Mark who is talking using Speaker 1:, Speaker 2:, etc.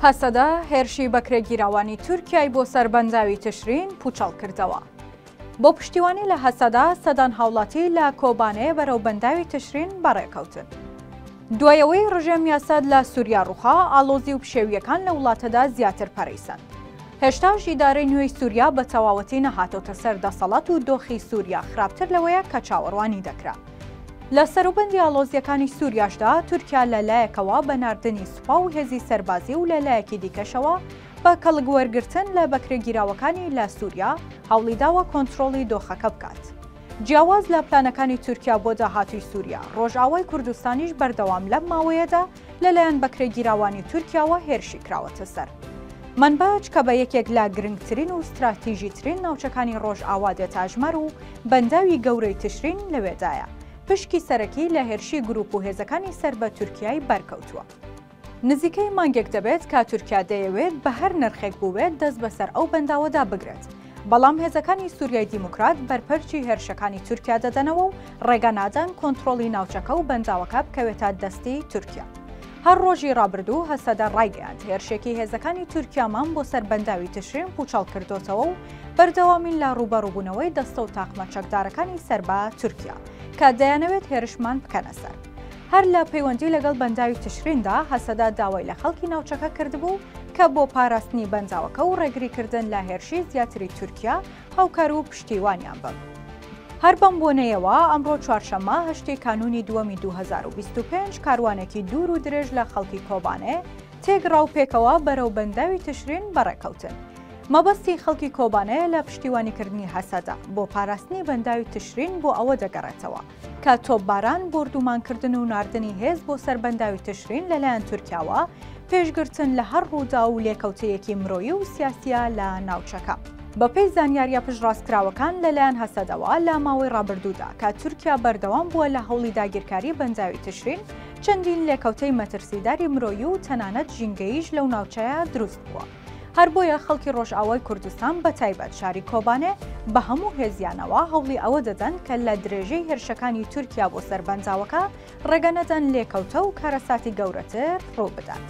Speaker 1: هەسەدە هێرشی بەکرێگیراوانی تورکیای بۆ سەر بەنداوی تشرین پووچەڵ کردەوە. بۆ پشتیوانی لە هەسەدە، سەدان هاوڵاتی لە کۆبانێ بەرەو بەنداوی تشرین بەڕێکەوتن. دوای ئەوەی ڕژێمی ئەسەد لە سوریا ڕووخا، ئاڵۆزی و پشێوییەکان لە وڵاتەدا زیاتر پەرەی سەند. هێشتاش ئیدارەی نوێی سوریا بە تەواوەتی نەهاتۆتە سەر دەسەڵات و دۆخی سوریا خراپتر لەوەیە کە چاوەڕوانی دەکرا. لە سەروبەندی ئاڵۆزییەکانی سووریاشدا، تورکیا لە لایەکەوە بە ناردنی سوپا و هێزی سەربازی و لە لایەکی دیکەشەوە بە کەڵک وەرگرتن لە بەکرێگیراوەکانی لە سووریا، هەوڵی داوە کۆنترۆڵی دۆخەکە بکات. جیاواز لە پلانەکانی تورکیا بۆ داهاتووی سووریا، ڕۆژئاوای کوردستانیش بەردەوام لەم ماوەیەدا، لەلایەن بەکرێگیراوانی تورکیاوە هێرشی کراوەتە سەر منباج کە بە یەکێک لە گرنگترین و ستراتیژیترین ناوچەکانی ڕۆژئاوا دێتاژمەر و بەنداوی گەورەی تشرین لەوێدایە پشکی سەرەکی لە هێرشی گروپ و هێزەکانی سەر بە تورکیای بەرکەوتووە. نزیکەی مانگێک دەبێت کە تورکیا دەیەوێت بە هەر نرخێک بووێت دەست بەسەر ئەو بەنداوەدا بگرێت، بەڵام هێزەکانی سوریای دیموکرات بەرپەرچی هێرشەکانی تورکیا دەدەنەوە و ڕێگە نادەن کۆنترۆڵی ناوچەکە و بەنداوەکە بکەوێتە دەستی تورکیا. هەر ڕۆژی ڕابردوو هەسەدە ڕایگەیاند هێرشێکی هێزەکانی تورکیامان بۆ سەر بەنداوی تشرین پوچەڵ کردۆتەوە و بەردەوامین لە ڕووبەڕووبوونەوەی دەستە و تاقمە چەکدارەکانی سەربە تورکیا کە دەیانەوێت هێرشمان بکەنە سەر. هەر لە پەیوەندی لەگەڵ بەنداوی تشریندا، هەسەدە داوای لە خەڵکی ناوچەکە کردبوو کە بۆ پاراستنی بەنداوەکە و ڕێگریکردن لە هێرشی زیاتری تورکیا، هاوکار و پشتیوانیان بن. هەر بەم بۆنەیەوە، ئەمڕۆ چوارشەممە، هەشتی کانوونی دووەمی دوو هەزار و بیست و پێنج، کاروانێکی دوور و درێژ لە خەڵکی کۆبانێ تێکڕا و پێکەوە بەرەو بەنداوی تشرین بەڕێکەوتن. مەبەستی خەڵکی کۆبانێ لە پشتیوانیکردنی هەسەدە بۆ پاراستنی بەنداوی تشرین بۆ ئەوە دەگەڕێتەوە، کە تۆپباران، بۆردومانکردن و ناردنی هێز بۆ سەر بەنداوی تشرین لەلایەن تورکیاوە، پێشگرتن لە هەر ڕووداو و لێکەوتەیەکی مرۆیی و سیاسییە لە ناوچەکە. بەپێی زانیارییە پشتڕاستکراوەکان لەلایەن هەسەدەوە لە ماوەی ڕابردوودا کە تورکیا بەردەوام بووە لە هەوڵی داگیرکاری بەنداوی تشرین، چەندین لێکەوتەی مەترسیداری مرۆیی و تەنانەت ژینگەییش لەو ناوچەیە دروست بووە. هەر بۆیە خەڵکی ڕۆژئاوای کوردستان بە تایبەت شاری کۆبانێ بە هەموو هێزیانەوە هەوڵی ئەوە دەدەن کە لە درێژەی هێرشەکانی تورکیا بۆ سەر بەنداوەکە ڕێگە نەدەن لێکەوتە و کارەساتی گەورەتر ڕوو بدات.